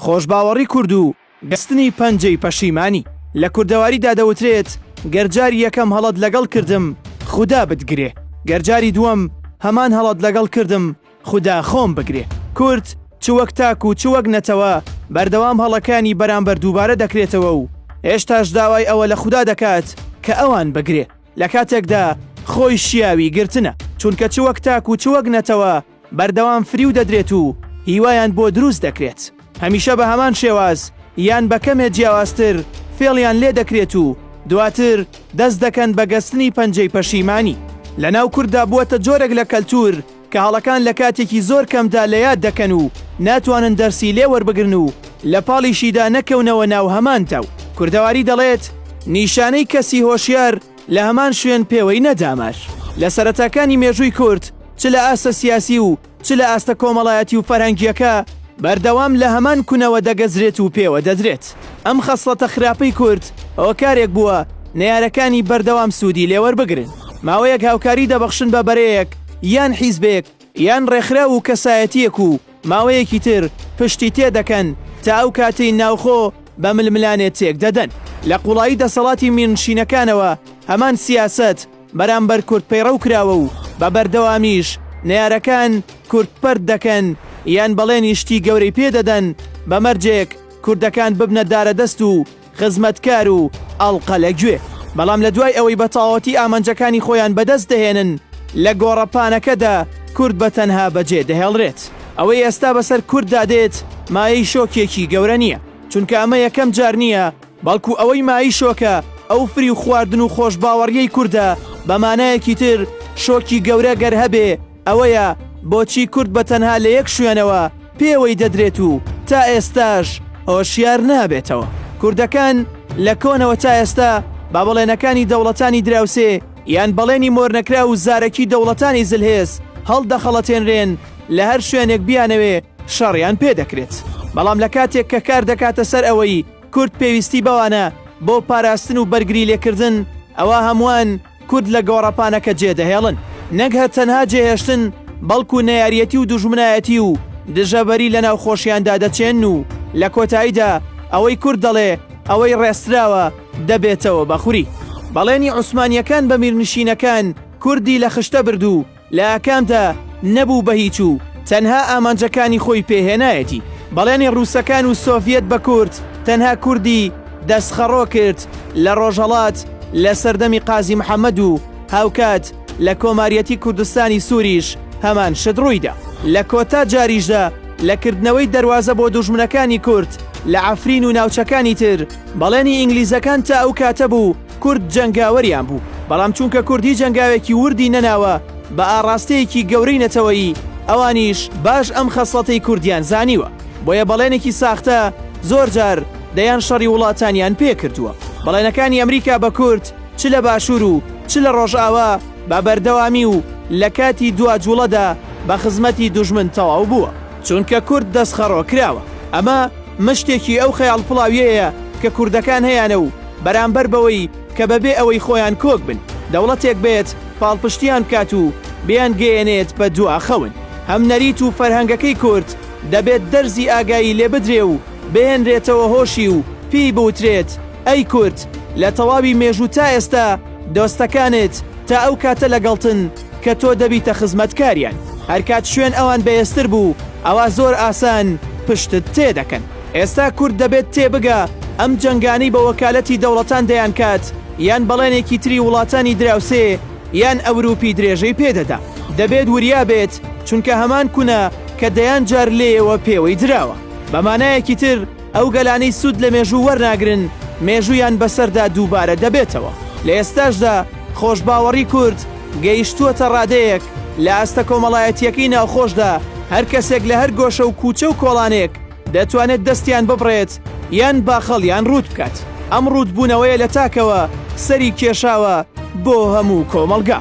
خۆشباوەڕی کورد و بەستنی پەنجەی پەشیمانی. لە کوردەواریدا دەوترێت، گەر جاری یەکەم هەڵەت لەگەڵ کردم، خودا بتگرێ. گەر جاری دووەم هەمان هەڵەت لەگەڵ کردم، خودا خۆم بگرێ. کورد چ وەک تاک و چ وەک نەتەوە بەردەوام هەڵەکانی بەرامبەر دووبارە دەکرێتەوە و هێشتاش داوای ئەوە لە خودا دەکات کە ئەوان بگرێ لە کاتێکدا خۆی شیاوی گرتنە. چونکە چ وەک تاک و چ وەک نەتەوە، بەردەوام فریو دەدرێت و هیوایان بۆ دروست دەکرێت هەمیشە بە هەمان شێواز یان بە کەمێ جیاوازتر فێڵیان لێ دەکرێت و دواتر دەست دەکەن بە گەستنی پەنجەی پەشیمانی لە ناو کورددا بووەتە جۆرێک لە کەلتور کە هەڵەکان لە کاتێکی زۆر کەمدا لە یاد دەکەن و ناتوانن دەرسی لێ وەربگرن و لە پاڵیشیدا نەکەونەوە ناو هەمان داو کوردەواری دەڵێت نیشانەی کەسی هۆشیار لە هەمان شوێن پێوەی نەداماش لە سەرەتاکانی مێژووی کورد چ لە ئاستە سیاسی و چ لە ئاستە کۆمەڵایەتی و فەرهەنگیەکە بەردەوام لە هەمان کونەوە دەگەزرێت و پێوە دەدرێت ئەم خەسڵەتە خراپەی کورد هۆکارێک بووە نەیارەکانی بەردەوام سوودی لێوەربگرن ماوەیەک هاوکاری دەبەخشن بە بەرەیەک یان حیزبێک یان ڕێکخراو و کەسایەتییەک و ماوەیەکی تر پشتی تێ دەکەن تا ئەو کاتەی ناوخۆ بە ململانێ تێک دەدەن. لە قوڵایی دەسەڵاتی میرنشینەکانەوە هەمان سیاسەت بەرامبەر کورد پەیڕەو کراوە و بە بەردەوامیش نەیارەکان کورد پەرت دەکەن یان بەڵێنی شتی گەورەی پێ دەدەن بە مەرجێک کوردەکان ببنە دارەدەست و خزمەتکار و ئەڵقە لە گوێ. بەڵام لە دوای ئەوەی بە تەواوەتی ئامانجەکانی خۆیان بەدەست دەهێنن، لە گۆڕەپانەکەدا کورد بە تەنها بەجێ دەهێڵرێت. ئەوەی ئێستا بەسەر کورددا دێت مایەی شۆکێکی گەورە نییە، چونکە ئەمە یەکەم جار نییە، بەڵکو ئەوەی مایەی شۆکە ئەو فریوخواردن و خۆشباوەڕییەی کوردە، بە مانایەکی تر شۆکی گەورە گەر هەبێ ئەوەیە بۆچی کورد بە تەنها لە یەک شوێنەوە پێوەی دەدرێت و تا ئێستاش هۆشیار نابێتەوە. کوردەکان لە کۆنەوە تا ئێستا بە بەڵێنەکانی دەوڵەتانی دراوسێ یان بەڵێنی مۆرنەکراو و زارەکی دەوڵەتانی زلهێز هەڵدەخەڵەتێنرێن، لە هەر شوێنێک بیانەوێ شەڕیان پێ دەکرێت. بەڵام لە کاتێک کە کار دەکاتە سەر ئەوەی کورد پێویستی بەوانە بۆ پاراستن و بەرگری لێکردن، ئەوا هەمووان، کورد لە گۆڕەپانەکە جێ دەهێڵن نەک هەر تەنها جێهێشتن بەڵکو نەیاریەتی و دوژمنایەتی و دژەبەری لە ناو خۆشیاندا دەچێن و لە کۆتاییدا ئەوەی کورد دەڵێ ئەوەی ڕێستراوە دەبێتەوە بە خوری بەڵێنی عوسمانیەکان بە میرنشینەکان کوردی لە خشتە بردوو لە ئاکامدا نەبوو بە هیچ و تەنها ئامانجەکانی خۆی پێ هێنایەتی. بەڵێنی ڕووسەکان و سۆڤیەت بە کورد تەنها کوردی دەستخەڕۆ کرد لە ڕۆژهەڵات لە سەردەمی قازی محەمەد و هاوکات لە کۆماریەتی کوردستانی سووریش هەمان شت ڕوویدا. لە کۆتا جاریشدا لە کردنەوەی دەروازە بۆ دوژمنەکانی کورد لە عەفرین و ناوچەکانی تر بەڵێنی ئینگلیزەکان تا ئەو کاتە بوو، کورد جەنگاوەریان بوو، بەڵام چونکە کورد هیچ هەنگاوێکی وردی نەناوە بە ئاڕاستەیەکی گەورەی نەتەوەیی، ئەوانیش باش ئەم خەسڵەتەی کوردیان زانیوە، بۆیە بەڵێنێکی ساختە زۆر جار دەیان شەڕی وڵاتانیان پێ کردووە. بەڵێنەکانی ئەمریکا بە کورد چ لە باشوور و چ لە ڕۆژئاوا بە بەردەوامی و لە کاتی دوا جووڵەدا بە خزمەتی دوژمن تەواو بووە. چونکە کورد دەستخەڕۆ کراوە. ئەمە مشتێکی ئەو خەیاڵ پڵاویەیە کە کوردەکان هەیانە و بەرامبەر بەوەی کە بە بێ ئەوەی خۆیان کۆک بن دەوڵەتێک بێت پاڵپشتیان بکات و بیان گەیەنێت بە دوا خەون هەم نەریت و فەرهەنگەکەی کورد دەبێت دەرزی ئاگایی لێ بدرێ و بهێنرێتەوە هۆشی و پێی بوترێت ئەی کورد لە تەواوی مێژوو تا ئێستا دۆستەکانت تا ئەو کاتە لەگەڵتن کە تۆ دەبیتە خزمەتکاریان هەرکات شوێن ئەوان بەێزتر بوو ئەوا زۆر ئاسان پشتت تێ دەکەن ئێستا کورد دەبێت تێ بگە ئەم جەنگانەی بە وەکالەتی دەوڵەتان دەیان کات یان بەڵێنێکی تری وڵاتانی دراوسێ یان ئەوروپی درێژەی پێدەدا دەبێت وریا بێت چونکە هەمان کونە کە دەیان جار لێیەوە پێوەی دراوە بەمانایەکی تر ئەو گەلانەی سوود لە مێژوو وەرناگرن، مێژوویان بەسەردا دووبارە دەبێتەوە. لە ئێستاشدا خۆشباوەڕی کورد گەیشتووەتە ڕادەیەک، لە ئاستە کۆمەڵایەتییەکەی ناوخۆشدا هەر کەسێک لە هەر گۆشە و کووچە و کۆڵانێک دەتوانێت دەستیان ببڕێت یان باخەڵیان ڕووت بکات. ئەم ڕووتبوونەوەیە لە تاکەوە سەری کێشاوە بۆ هەموو کۆمەڵگا.